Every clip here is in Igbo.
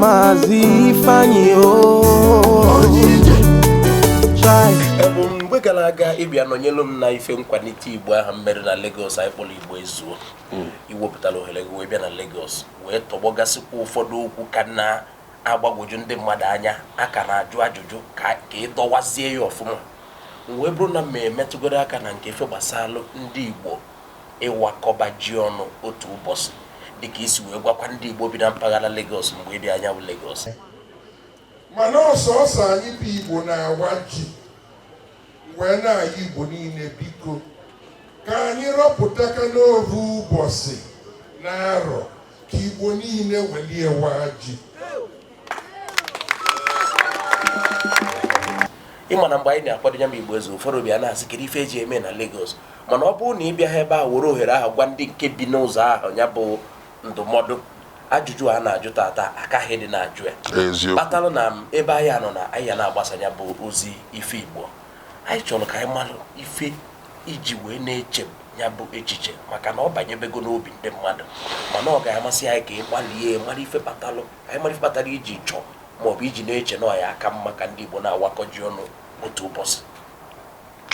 Maazị Ifeanyi o Chai. Ebu m mgbe gara aga ị bịa nọnyelu m na ife nkwanite igbo ahụ m mere na Lagos anyị kpọrọ igbo ezuo i wepụtara ohere gị wee bịa na Lagos wee tọgbọgasịkwa ụfọdụ okwu ka na-agbagwoju ndị mmadụ anya a ka na-ajụ ajụjụ ka ka ị dọwazie ya ọfụma m wee bụrụ na m emetụgoro aka na nke ife gbasalụ ndị igbo ịwakọba ji ọnụ otu ụbọsị dịka i si wee gwakwa ndị Igbo bi na mpaghara Lagos mgbe ị bịa nya bụ Lagos. Mana ọ sọsọ anyị bụ Igbo na-awa ji wee na-ayọ Igbo niile biko ka anyị rọpụtakwanụ ovu ụbọsị n'arọ ka Igbo niile welie waa ji ị ma na mgbe anyị na-akwado ya bụ igbo ezuo ụfọdụ abịa na-asị kedu ife e ji eme na Lagos mana ọ bụrụ na ị bịaha ebe ahụ were ohere ahụ gwa ndị nke bi n'ụzọ ahụ ya bụ ndụmọdụ ajụjụ a na-ajụ tata akaghị dị na-ajụ ya kpatalụ na ebe anyị nọ na anyị na-agbasa ya bụ ozi ife igbo anyị chọrọ ka anyị malụ ife i ji wee na-eche ya bụ echiche maka na ọ banyebego n'obi ndị mmadụ mana ọ ga-amasị anyị ka ị gbalịa mara ife kpatalụ anyị mara kpatara i ji chọọ maọbụ i ji na-eche na ọ ya-aka mma ka ndị Igbo na-awakọ ji ọnụ otu ụbọsị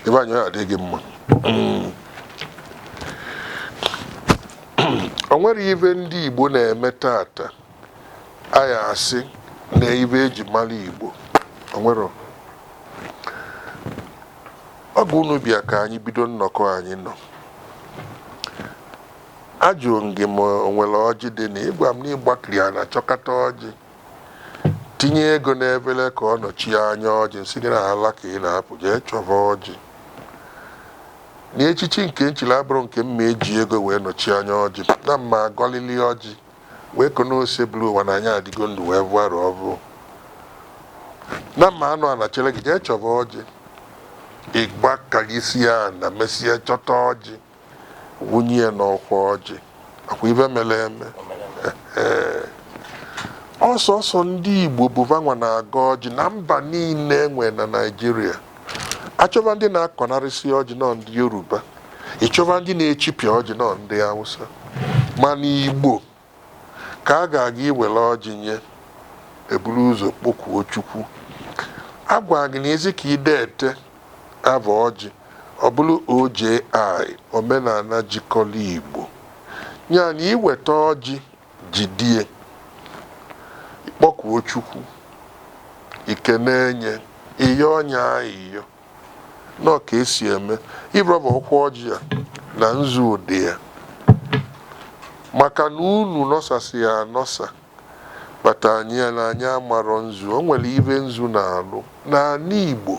ebe anyị adị gị mma o nwere ive ndị Igbo na-eme tata a ya-asị na ive e ji mara Igbo o nwere ọ bụ unu bịa ka anyị bido nnọkọ anyị nọ Ajụrụ m gị ma o nwere ọjị dị na ị gwara m na ị gbakiri ana chọkata ọjị, tinye ego n'efere ka ọ nọchie anya ọjị, m sị gị na ala ka ị na-apụ jee chọba ọjị. Na echichi nke m chiri abụrọ nke m ma eji ego wee nọchie anya ọjị, na m ma agọlili ọjị wee kenee Osebụrụwa na anyị adịgo ndụ wee vụọ arọ ọvụụ. Na m ma anọ ana chere gị jee chọba ọjị, ị gbakirisie ana mesịa chọta ọjị. wunye ya n'ọkwa ọjị ọ kwa ive mere eme ọ sọsọ ndị Igbo bụ va nwa na-agọ ọjị na mba niile e nwe na Naịjirịa a chọva ndị na-akọnarịsị ọjị na ọ ndị Yoruba ị chọva ndị na-echipịa ọjị na ọ ndị Hausa mana Igbo ka a ga-aga iwere ọjị nye, e buru ụzọ kpọkuo Chukwu. A gwara gị na ị sị ka i dete ava ọjị, ọ bụrụ OJI, Omenala Jikọrọ Igbo. Ya na i weta ọjị, jidie, ị kpọkuo Chukwu, i kenee nye, ị yọọ nye ayịyọ. nọ ka esi eme ịrọba ọkwa ọjị a na nzu dị ya maka na unu nọsasịa anọsa kpata anyị ya na anyị amarọ nzu o nwere ive nzu na-alụ n'anị Igbo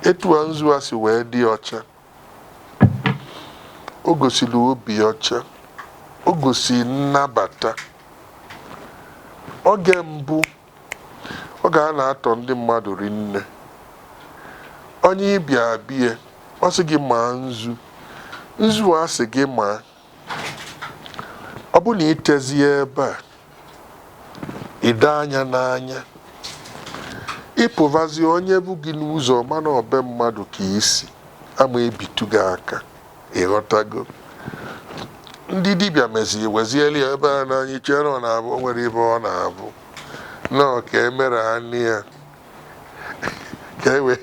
etu a nzu a si wee dị ọcha o gosiri obi ọcha o gosiri nnabata oge mbụ Oge a na-atọ ndị mmadụ rinne. Onye ị bịa bie, ọ sị gị maa nzu. Nzu a sị gị maa, ọ bụ na itezie ebe a, ide anya n'anya. Ị pụvazie, onye vụ gị n'ụzọ, ọ ma na ọ be mmadụ ka i si, a ma-ebitụ gị aka. ịghọtago ndị dibịa meziri wezieli ya ebe a na anyị chere ọ na-abụ o nwere ive ọ na-abụ nọọ ka e mere anị ya ka e wee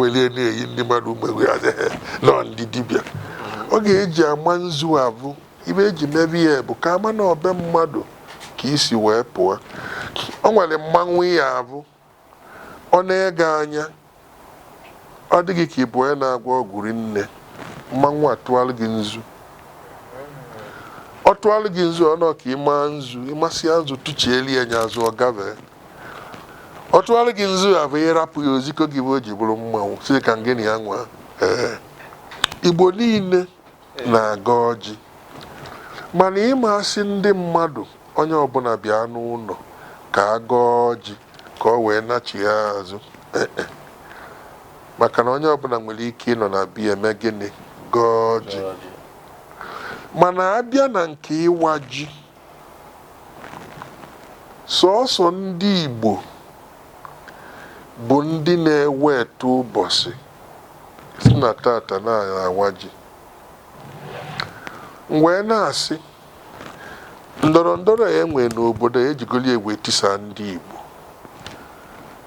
welie na-eyi ndị mmadụ egwu ya nọ ndị dibịa oge e ji ama nzu avụ ive e ji meve ya bụ ka a ma na ọ be mmadụ ka i si wee pụa o nwere mmanwụ ya abụ Ọ nee gị anya, ọ dị gị ka ị bụ onye na-agwọ ọgwụ rinne, mmanwụ atụalụ gị nzu. Ọ tụalụ gị nzu, ọ nọọ ka ị maa nzu, ị masịa nzu, tụchieli ya nya azụ, ọ gavee. Ọ tụalụ gị nzu avụ ị rapụ ya oziko gị bụ o ji bụrụ mmanwụ, sị ka ngị na ya nwaa. Ee. Igbo niile na-agọ ọjị mana ị ma-asị ndị mmadụ onye ọbụna bịa n'ụnọ ka a gọọ ọjị ka ọ wee nachigha azụ Eh, eh. maka na onye ọbụna nwere ike ịnọ na be ya eme gịnị gọọ ọjị mana a bịa na nke ịwa ji Sọọsọ ndị Igbo bụ ndị na-eweta ụbọsị sị na tata na-awa ji. M wee na-asị ndọrọ ndọrọ a e nwere n'obodo a ejigoro ya wee tisaa ndị Igbo.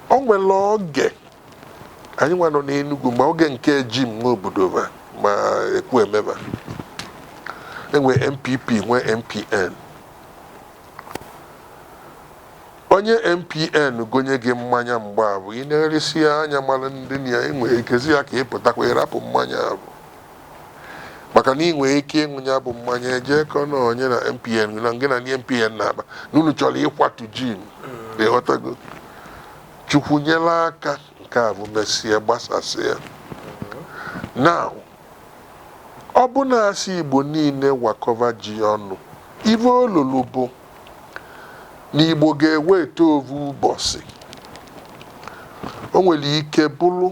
O nwere oge Anyị nwa nọ n'Enugwu ma oge nke Jim Nwobodo va ma Ekwueme va e nwee NPP nwee NPN onye NPN gonye gị mmanya mgbe avụ ị na-enesi ya anya mara ndị na ya enwere ikezi ya ka ị pụtakwa ịrapụ mmanya avụ maka na ị nwere ike ịṅụ ya bụ mmanya e je kọọ na onye na NPN na ngị na ndị NPN na-akpa na unu chọrọ ịkwatu Jim ịghọtago Chukwu nyere aka nke avụ mesie gbasasịa. Now, ọ bụ na asị Igbo niile wakọva ji ọnụ, ife o lulu bụ na Igbo ga-eweta ovu ụbọsị. O nwere ike bụrụ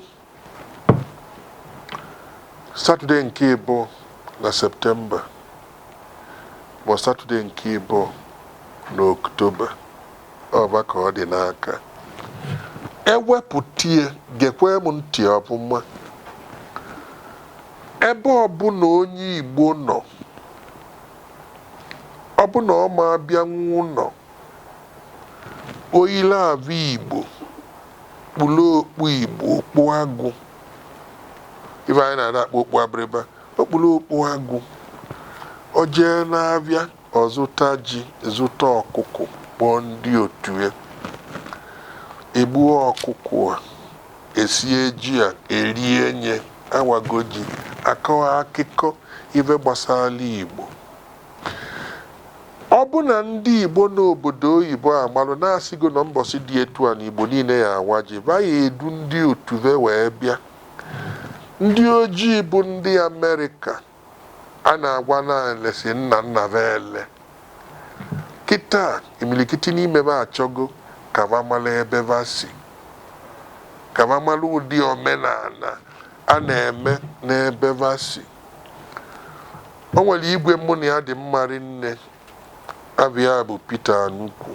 Satọde nke ịbụa na Septemba ma ọ bụ Satọde nke ịbụa na Oktoba ọba ka ọ dị n'aka ewepụtie gekwe m ntị ọ bụ ma ebe ọbụla onye Igbo nọ ọ bụ na ọ ma abịanwu ụnọ o yili ave Igbo kpulu okpu Igbo, okpu agụ ife anyị na-adị akpọ okpu abịrịba o kpulu okpu agụ o jee n'avịa ọ zụta ji zụta ọkụkụ kpọọ ndị otu ya egbuo ọkụkụ a esie ji a erie nye awago ji akọwa akụkọ ife gbasara Igbo Ọ bụ na ndị Igbo nọ obodo oyibo amalụ na asịgo na mbọsị dị etu a na Igbo niile ya awa ji, va ya edu ndị otu ve wee bịa. Ndị ojii bụ ndị Amerịka a na-agwa na anyị lesi nna nna va ele. Kịtaa imilikiti n'ime va achọgo ka va mara ebe va si, ka va mara ụdị omenala a na-eme n'ebe va si. O nwere igwe mụ na ya dị mma rinne, ava ya bụ Peter Anugwu,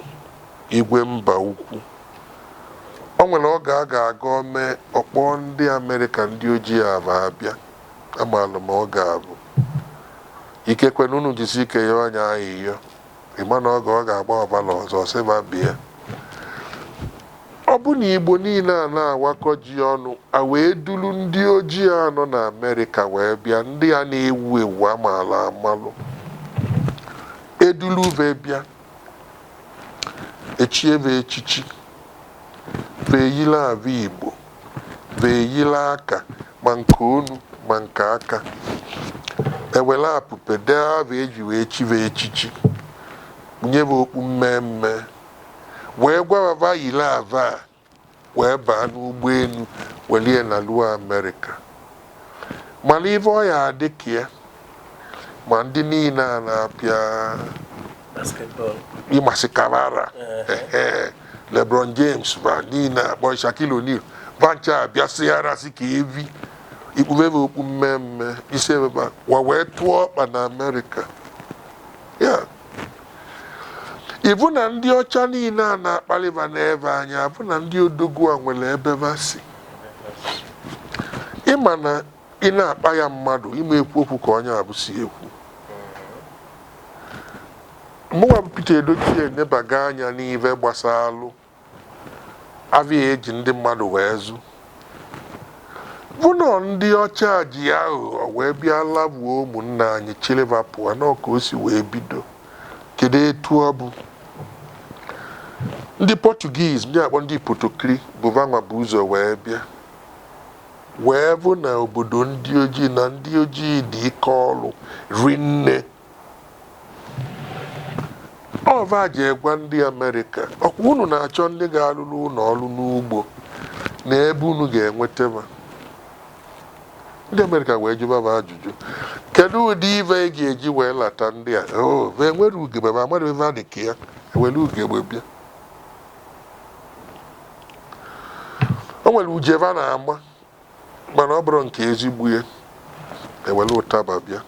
Igwe Mbaukwu. O nwere oge a ga-aga o mee, ọ kpọọ ndị Amerịka ndị ojii a va abịa. Amaara m oge avụ. Ikekwe na unu jisi ike yọọ nya ayịyọ. Ị ma na oge ọ ga-agba ọvala ọzọ sị va bịa. Ọ bụ na Igbo niile a na-awakọ ji ọnụ a wee duru ndị ojii a nọ n'Amerịka wee bịa ndị a na-ewu ewu a malụ amalụ eduru ve bịa echie ve echichi ve eyiri ave Igbo ve yila aka ma nke onu ma nke aka ewere apupe dee ava e ji wee chi va echichi kpunye va okpu mmee mmee wee gwa va va yiri ave a wee baa n'ụgbọelu welu ya naruo Amerịka. Mara ive ọ ya adị ka ya ma ndị niile a na-apịa basketball ịmasị karara ehe, lebron james va niile akpọ Shaquille O'Neal va ncha abịasịara sị ka evi ikpuve va okpu mmemme i si ebe a wa wee tụọ ọkpa na amerịka ya ị vụ na ndị ọcha niile a na-akpalị va ne va anya avụ na ndị odogwu a nwere ebe va si ị ma na ị na-akpa ya mmadụ ime ekwu okwu ka onye abụ si ekwu mụnwa bụ Peter Edochie enebago anya n'ive gbasalụ avịa eji ndị mmadụ wee zụ vụ na ndị ọcha ji aghụghọ wee bịa lavuo ụmụnna anyị chili va pụọ na ọ ka o si wee bido Kedụ etu ọ bụ? Ndị Portuguese, ndị akpọ ndị Potokiri, bụ va nwa bu ụzọ wee bịa wee vụ na obodo ndị ojii na ndị ojii dị ike ọrụ rinne ọ va je gwa ndị Amerịka ọkwa unu na-achọ ndị ga-alụrụ unu ọrụ n'ugbo na ebe unu ga-enweta ndị amerịka wee jụba va ajụjụ kedu ụdị ive ị ga-eji wee lata ndị a "Oh, ma e were ugegbe va amadị ive dị ka ya e were ugegbe bịa o nwere uje va na-ama mana ọ bụrọ nke ezigbo ya ewere ụtaba bịa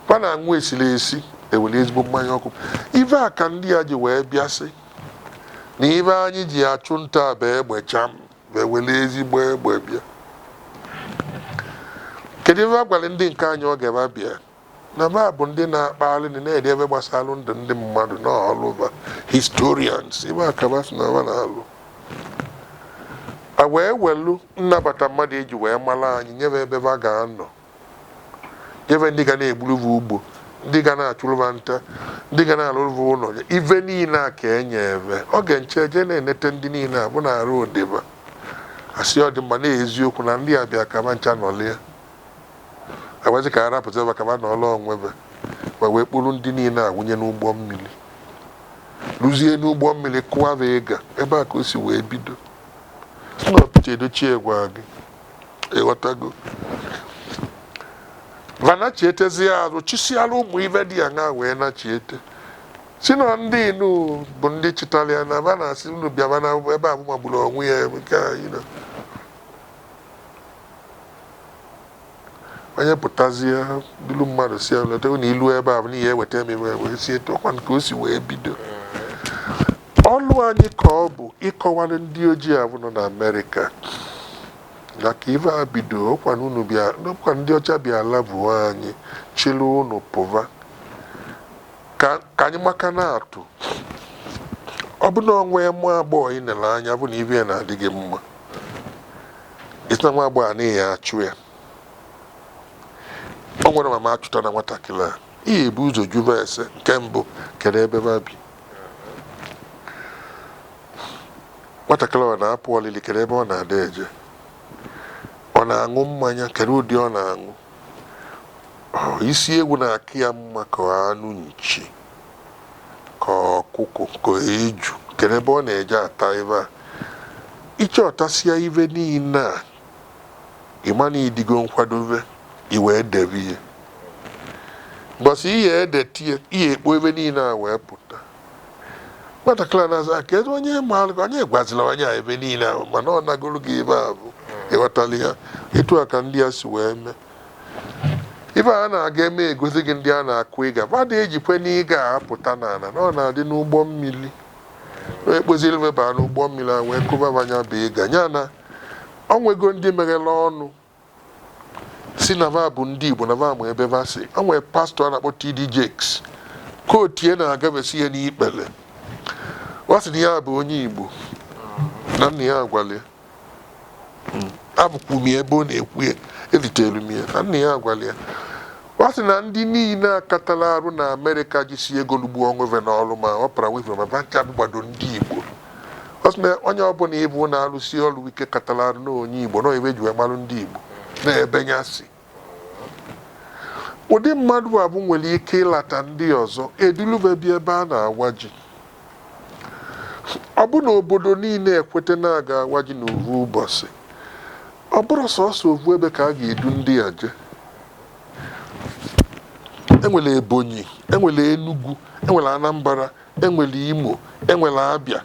va na-aṅụ esiri esi ewere ezigbo mmanya ọkụ ive a ka ndị a ji wee bịa sị na ive anyị ji achụ nta bụ egbe cham wee were ezigbo egbe bịa kedu ive va gwara ndị nke anyị oge va bịa na va bụ ndị na-akpagharị ndị na-ede ive gbasara ndụ ndị mmadụ na ọlụ va historians ive a ka va sị na va na-alụ a wee welu nnabata mmadụ eji wee mara anyị nye va ebe va ga-anọ nye va ndị ga na-egburu va ugbo ndị ga na-achụrụ va nta ndị ga na-alụrụ va ụlọ ive niile a ka e nye va ọ ga-enche je na-enete ndị niile a vụ na arụ odeba asị ọ dị mma na eziokwu na ndị a bịa ka va ncha nọlie agwazi ka arapụta ebe ka va nọlịa onwe va ma wee kpọrọ ndị niile a wụnye n'ụgbọ mmiri ruzie n'ụgbọ mmiri kụwa va ịga ebe a ka o si wee bido sị na ọ Peter Edochie gwa gị ịghọtago va nachietezie azụ chisiara ụmụ ive dị ya na wee nachiete si na ndị inu bụ ndị chịtara ya na va na-asị unu bịaba na ebe a magburu onwe ya nke a you know. onye pụtazie dulu mmadụ si ya leta unu ilu ebe a bụ n'ihi eweta m iwe wee si etu ọ ka o si wee bido Ọlụ anyị ka ọ bụ ịkọwara ndị ojii ahụ nọ n'Amerịka na ka ife a bido ọkwa na unu bịa ọkwa ndị ọcha bịa lavuo anyị chịrị unu pụva ka ka anyị maka na-atụ ọ bụ na o nwee nwa agbọghọ ị nere anya bụ na ive ya na-adị gị mma ị sị na nwa agbọghọ a na ị ya-achụ ya o nwerọ mama achụta na nwatakịrị a ị ya-ebu ụzọ juba ese nke mbụ kedu ebe ba bi nwatakịrị ọ na-apụ olili kedu ebe ọ na-adị eje ọ na-aṅụ mmanya kedu ụdị ọ na-aṅụ Ọ, isi ewu na-aka ya mma ka anụ nchi ka ọkụkọ ka eju kedu ebe ọ na-eje ata ive a ị chọtasịa ive niile a ị ma na ị dịgo nkwadobe i wee debe ihe mbọsị ị ya-edetie ị ya-ekpo ive niile a wee pụta nwatakịrị a na-aza ka ebe onye maara gị onye gwazila onye a ebe niile ahụ mana ọ nagoro gị ebe a bụ ịghọtala ya etu a ka ndị a si wee mee ife a na-aga eme egosi gị ndị a na-akụ ịga mmadụ ejikwe n'ịga apụta n'ala na ọ na-adị n'ụgbọ mmiri ekpoziri meba n'ụgbọ mmiri a wee kụba ba nya bụ ịga ya na O nwego ndị meghere ọnụ sị na va bụ ndị Igbo na va ma ebe va si. O nwere pastọ a na-akpọ TD Jakes ka otie na-agafesi ike n'ekpere. Ọ sị na ya bụ onye Igbo na nna ya gwara ya. Avụkwu m ya ebe ọ na-ekwu ya, elitere m ya na nna ya gwara ya. Ọ sị na ndị niile katala arụ na Amerịka jisi ego lụgbuo onwe va n'ọrụ ma Oprah Winfrey ma va ncha gbado ndị Igbo. ọ sị na onye ọbụla ị vụ na-alụsi ọrụ ike katara arụ na onye igbo na ive e ji wee marụ ndị igbo na-ebe ya si ụdị mmadụ avụ nwere ike ịlata ndị ọzọ edulube bi ebe a na-awa ji ọ bụ na obodo niile ekweta na a ga-awa ji na ovu ụbọchị ọ bụrụ sọsọ ovu ebe ka a ga-edu ndị a je e nwere Ebonyi e nwere Enugu e nwere Anambra e nwere Imo e nwere Abịa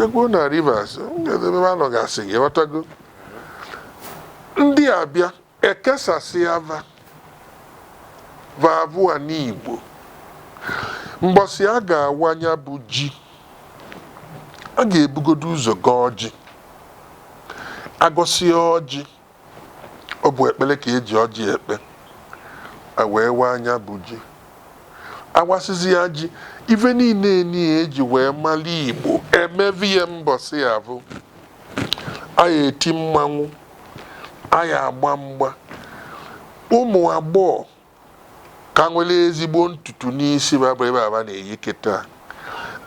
ekwuo na Rivers ebe a nọgasị ị ghọtago ndị a bịa e kesasịa va va avụ anị Igbo mbọsị a ga-awa nya bụ ji a ga-ebugodo ụzọ gọọ ọjị agọsịa ọjị Ọ bụ ekpere ka e ji ọjị ekpe. E wee waa nya bụ ji. A wasịzịa ji, ife niile niile e ji wee mara Igbo e meve ya mbọsị avụ a ya-eti mmanwụ, a ya-agba mgba. Ụmụ agbọghọ ka nwere ezigbo ntutu n'isi ba bụ ibe a ba na-eyi kịta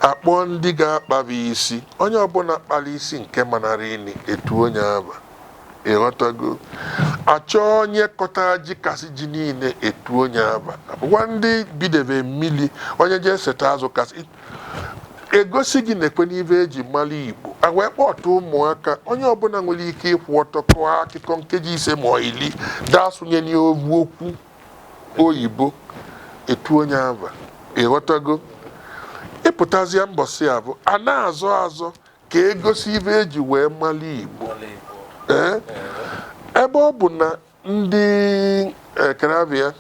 akpọọ ndị ga-akpaba isi onye ọbụla kpara isi nke manara ini etu onye aba ịghọtago achọọ onye kọta ji kasị ji niile etu onye aba abụkwa ndị bidebe mmiri onye jee seta azụ kasị egosi gị nekwanụ ibe eji mara Igbo e wee kpọta ụmụaka onye ọbụla nwere ike ịkwụ ọtọ kọọ akụkọ nkeji ise ma ọ iri daa sụnye n'ovu okwu oyibo etu onye ava ịghọtago ịpụtazịa mbọsị abụ a na-azọ azọ ka egosi ibe eji wee mara Igbo ee ebe ọ bụ na Ndị Ekereabịa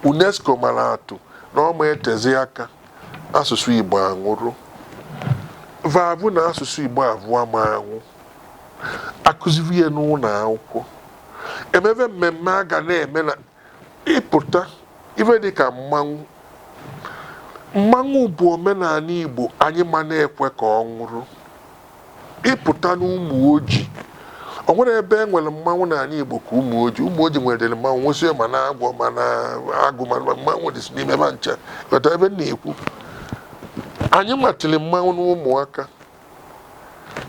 UNESCO mara atụ na ọ ma-etezi aka asụsụ Igbo anwụrụ va avụ na asụsụ Igbo avụ ama anwụ akụzibe ya n'ụlọ akwụkwọ emebe mmemme a ga na-eme na ịpụta ife dịka mmanwụ mmanwụ bụ omenala Igbo anyị ma na-ekwe ka ọ nwụrụ Ị pụta n'Umuoji, o nwerọ ebe e nwere mmanwụ n'ala Igbo ka Umuoji. Umuoji nwedịrị mmanwụ, nwezie ma na agwọ ma na agụ ma ma mmanwụ dịsị n'ime ebe a ncha. Ghọta ibe m na-ekwu? Anyị matịrị mmanwụ n'ụmụaka.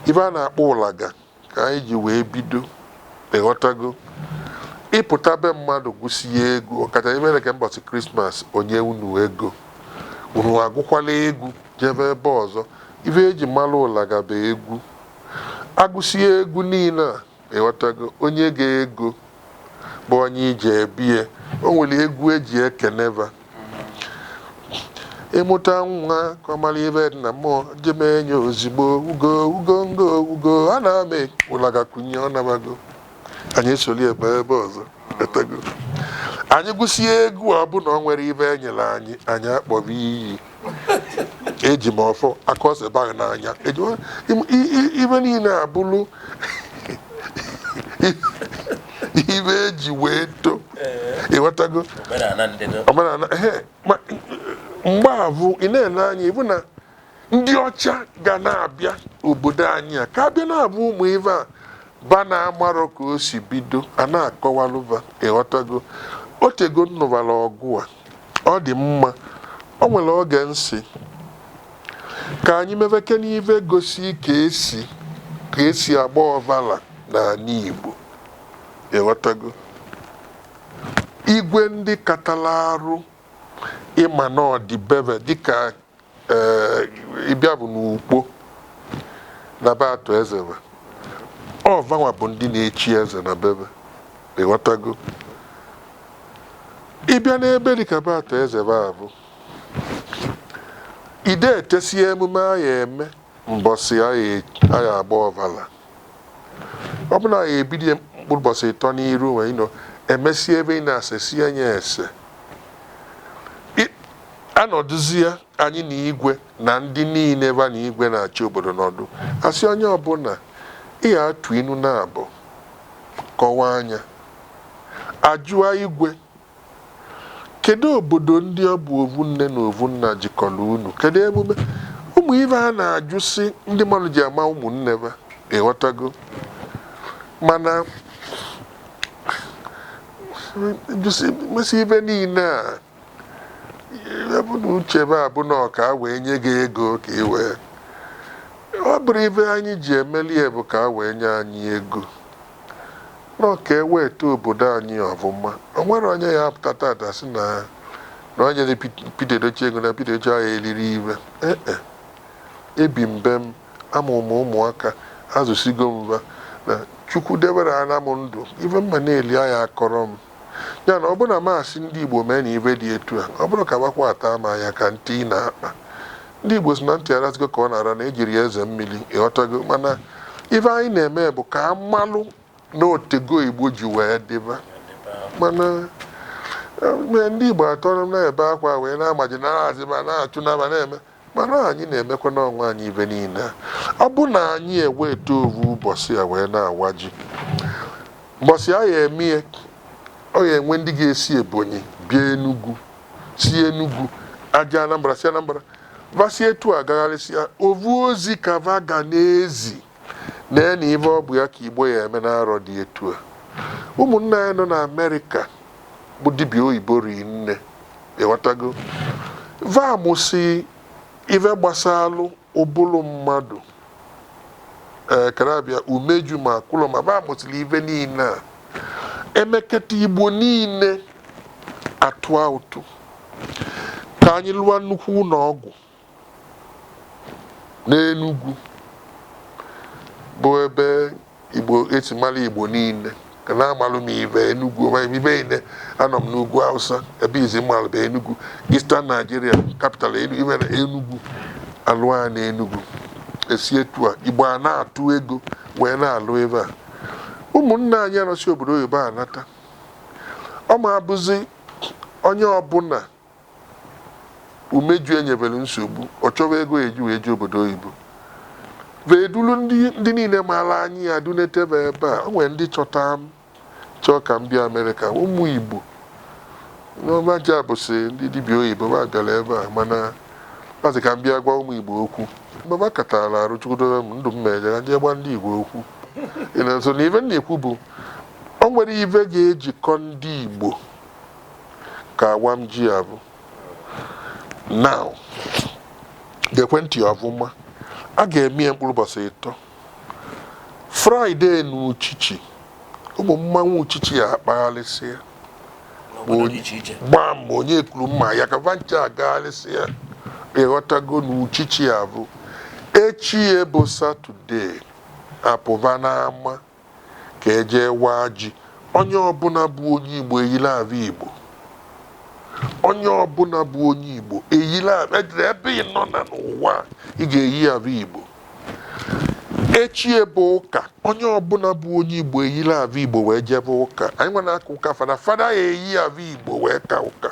Ibe a na-akpọ ụlaga ka anyị ji wee bido. Ị ghọtago? Ị pụta be mmadụ gụsi ya egwu, ọkacha imere ka mbọchị Krismas o nye unu ego. Unu agụkwara egwu. jebe ebe ọzọ. Ife e ji mara ụlaga bụ egwu. A gụsịa egwu niile a, ị ghọtago, onye ga ego bụ onye e ji ebie. O nwere egwu e ji ekene fa. Ị mụta nwa ka ọ mara ife dị na mmụọ, je mee ya ozigbo. Ugo, ugo ngo, ugo, a na m e ụlaga kunie, ọ nabago. Anyị esoro ya baa ebe ọzọ. Ghọtago? Anyị gụsịa egwu a, ọ bụ na o nwerọ ife e nyere anyị, anyị akpọba iyi. eji m ọfọ aka ose baa n'anya eji m- im- i- i- ibe niile abụrụ ibe eji wee to ịghọtago omenala ndị dị omenala ehe ma mgbe abụ ị na-ele anya ịbụ na ndị ọcha ga na-abịa obodo anyị a ka a bịa na-abụ ụmụ ibe a ba na-amarọ ka o si bido a na-akọwalụ ba ịghọtago o tego m nụbara ọgụ a Ọ dị mma, o nwere oge m sị ka anyị mebekene ibe gosi ka esi ka esi agba ọvala n'ala Igbo. Ịghọtago? Igwe ndị katara arụ ịma na ọ dịbe ebe dịka ee ịbịa bụ n'Ukpo na be Arthur Eze be ọ vanwa bụ ndị na-echi eze na be be ịghọtago ịbịa n'ebe dịka be Arthur Eze be a bụ ide etesi emume a ya eme mbọsị a ya agba ọvala Ọ bụ na ya ebido ya mkpụrụ ụbọsị ịtọ n'iru wee nọ emesie ebe ị na-ase si ya nye ese I- anọdụzia anyị na igwe na ndị niile va na igwe na-achị obodo nọdụ a sị onye ọbụla ị ya atụ inu naabụ kọwaa anyị ajụa igwe Kedụ obodo ndị ọ bụ ovu nne na ovu nna jikọrọ unu? Kedụ emume? Ụmụ ive a na-ajụsị ndị mmadụ ji ama ụmụnne va, ị ghọtago? Mana jụsị mesị ive niile a bu n'uche va bụ na ọ ka a wee nye gị ego ka ị wee ọ bụrụ ive anyị ji emeli ya bụ ka a wee nye anyị ego Na ọ ka eweta obodo anyị ọvụma. O nwere onye ya apụta tata sị na na enyerọ Pete Edochie ego na Pete Edochie aya elirọ ive. E-e. Ebi m be m, amụrụ m ụmụaka, azụsigo m va. Na Chukwu debere anọ m ndụ, ive m ma na-eli aya akọrọ m. Ya na ọ bụrụ na m asị ndị Igbo meenụ ive dị etu a, ọ bụrụ ka bakwa ataa m anya ka ntị ị na-akpa. Ndị Igbo sị na ntị arazigo ka ọ na-ara na ejirọ ya eze mmiri, ịghọtago mana ive anyị na-eme bụ ka amalụ na otego Igbo ji wee dịba mana eh, ndị Igbo atọrọ na-ebe akwa wee na-amaji na-azịba na-achụna va na-eme Mana anyị na-emekwana onwe anyị ive niile a. Ọ bụ na anyị eweta ovu ụbọsị a wee na-awa ji, mbọsị a ya-eme ya, ọ ya-enwe ndị ga-esi Ebonyi bịa Enugwu, si Enugwu eje Anambra, si Anambra va si etu a gagharịsịa, ovu ozi ka va ga na-ezi. Lee na ife ọ bụ ya ka Igbo ya eme n'arọ dị etu a. Ụmụnna anyị nọ n'Amerịka bụ dibịa oyibo rinne ịghọtago va amụsị ive gbasalụ ụbụlụ mmadụ ee karabịa umeju ma akụlụ ma va amụsịlị ive niile a emekata Igbo niile atụa ụtụ ka anyị lụa nnukwu ụlọ ọgwụ n'Enugwu bụ ebe Igbo esi mara Igbo niile ka na-amalụ m ive Enugwu ibe niile anọ m n'ugwu Hausa ebe izizi m malụ bụ Enugwu Eastern Nigeria capital imere Enugwu alụa na Enugwu esi etu a Igbo a na-atụ ego wee na-alụ ive a ụmụnna anyị nọsị obodo oyibo anata ọ ma abụzi onye ọbụla umeju enyebere nsogbu ọ chọwa ego ya eji wee jee obodo oyibo wee duru ndị ndị niile maara anyị ya dunetebe ebe a o nwere ndị chọta m chọọ ka m bịa amerịka ụmụ igbo n'ọma ji abụsị ndị dibịa oyibo ma bịara ebe a mana kpazị ka m bịa gwa ụmụ igbo okwu mgbe m akatara arụ chukwu dobe m ndụ m meje ka jee gwa ndị igbo okwu Ị na- so na ive m na-ekwu bụ o nwere ive ga-ejikọ ndị igbo ka awam ji avụ now gekwe ntị ọvụma a ga-eme ya mkpụrụ ụbọchị ịtọ fraịde na uchichi ụmụ mmanwụ uchichi ya akpagharịsịa n'obodo dị iche iche gbaa mgbe onyekuru ma ayaka va ncha agagharịsịa ị ghọtago na uchichi avụ echi ya bụ satọde apụba n'ama ka e jee waa ji. Onye ọbụla bụ onye Igbo eyiri ave Igbo. Onye ọbụla bụ onye Igbo eyiri ave edere ebe ị nọ na n'ụwa a, ị ga-eyi ave Igbo. Echi ya bụ ụka, onye ọbụla bụ onye Igbo eyiri ave Igbo wee jebe ụka. Anyị nwa na-aka ụka fada, fada ya-eyi ave Igbo wee ka ụka.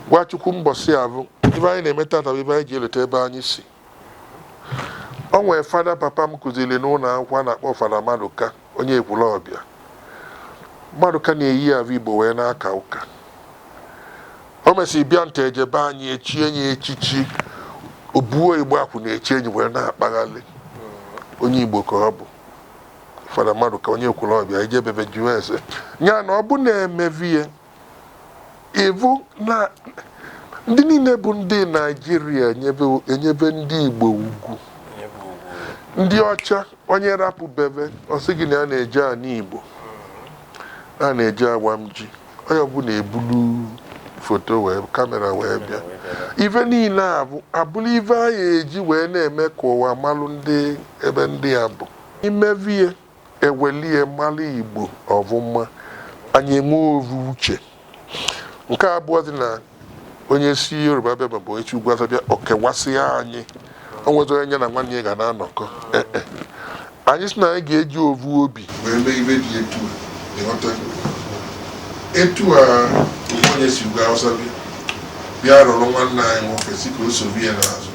Gwa Chukwu mbọsị avụ, ive anyị na-eme tata bụ ive anyị ji elota ebe anyị si. O nwere fada papa m kụziri n'ụnọ akwụkwọ a na-akpọ fada Madụka onye Ekwulọbịa Madụka na-eyi ave Igbo wee na-aka ụka o mesịrị bịa nata ejebe anyị echie enyi echichi obuo igbo akwụ na-echi enyi wee na-akpaghalị onye Igbo ka ọ bụ fada Madụka onye Ekwulọbịa i jee be ve jụọ ese ya na ọ bụ na-emevi ya ị vụ na ndị niile bụ ndị naijiria enyebe enyebe ndị igbo ugwu ndị ọcha onye rapụ be ve ọ sị gị na ya na-eje ana igbo a na-eje awam ji onye ọbụla ebulu foto wee kamera wee bịa ive niine avụ abụrụ ive anyị eji wee na-eme ka ụwa malụ ndị ebe ndị a bụ imevie ewelie mara Igbo ọvụma anyị enwe ovu uche nke abụọzi na onye si Yoruba bịa maọbụ onye si Ugwu Awụsa bịa ọ kewasịa anyị o nwezọ onye ya na nwanne ya ga na-anọkọ Eh, eh. anyị sị na anyị ga-eji ovu obi wee mee ive dị etu a ị ghọta etu a onye si Ugwu Awụsa bịa bịa duru nwanne anyị nwoke sị ka o sobe ya n'azụ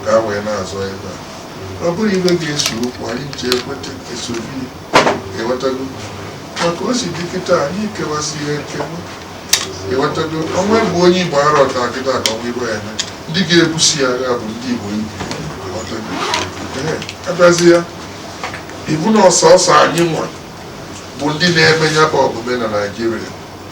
ka a wee na-azọ ebe a ọ bụrụ ive ga-ese okwu anyị ji ekweta esobi ewetago maka o si dị kịta anyị kewasị ihe nkewa ewetago ọnwa bụ onye igbo ara ọta kịta ka ọnwa igbo ya eme ndị ga-ebusi ya agha bụ ndị igbo ibu abịazi ya ị vụ na ọsọsọ anyị nwa bụ ndị na-eme ya bụ omume na naijiria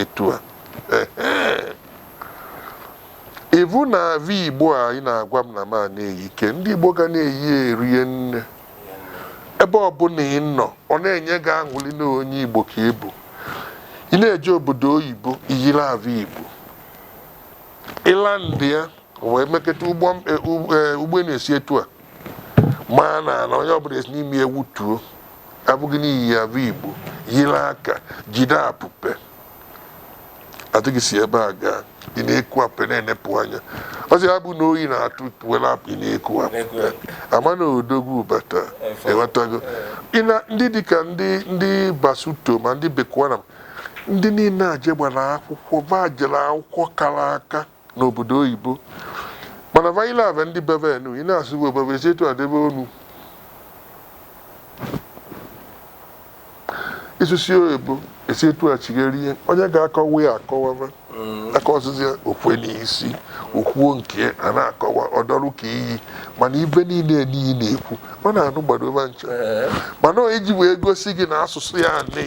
etu a ị vụ na ave igbo a ị na-agwa m na m a na-eyi ike ndị igbo ga na-eyi erie nne ebe ọbụla ị nọ ọ na-enye gị aṅụli na onye igbo ka ị bụ ị na-eje obodo oyibo i yiri ave igbo ị landịa wee meketa ụgbọ enu esi etu a maa n'ana onye ọbụla esi n'ime ya wụtuo a vụ gị na i yi ave igbo yiri aka jide apụpe a sị gị si ebe a gaa ị na-eku apụpe na-enepụ anya ọ sị ya bụ na oyi na-atụ were apụ ị na-eku apụpe a ma na odogwu bata ịghọtago Ị na- ndị dịka ndị ndị basuto ma ndị bekwana ndị niile a je gbara akwụkwọ va jere akwụkwọ kara aka n'obodo oyibo mana va yile ave ndị be ve enu ị na-asụ bụ bebe si etu a debe ọnụ ịsụsi oyibo esi etu a chigherie onye ga-akọwa ya akọwaba aka ọsịsị ya o kwe n'isi o kwuo nke a na-akọwa ọ dọrụ ka iyi mana ive niile niile na-ekwu ọ na-anụgbado ive ncha mana o ji wee gosi gị na asụsụ ya anị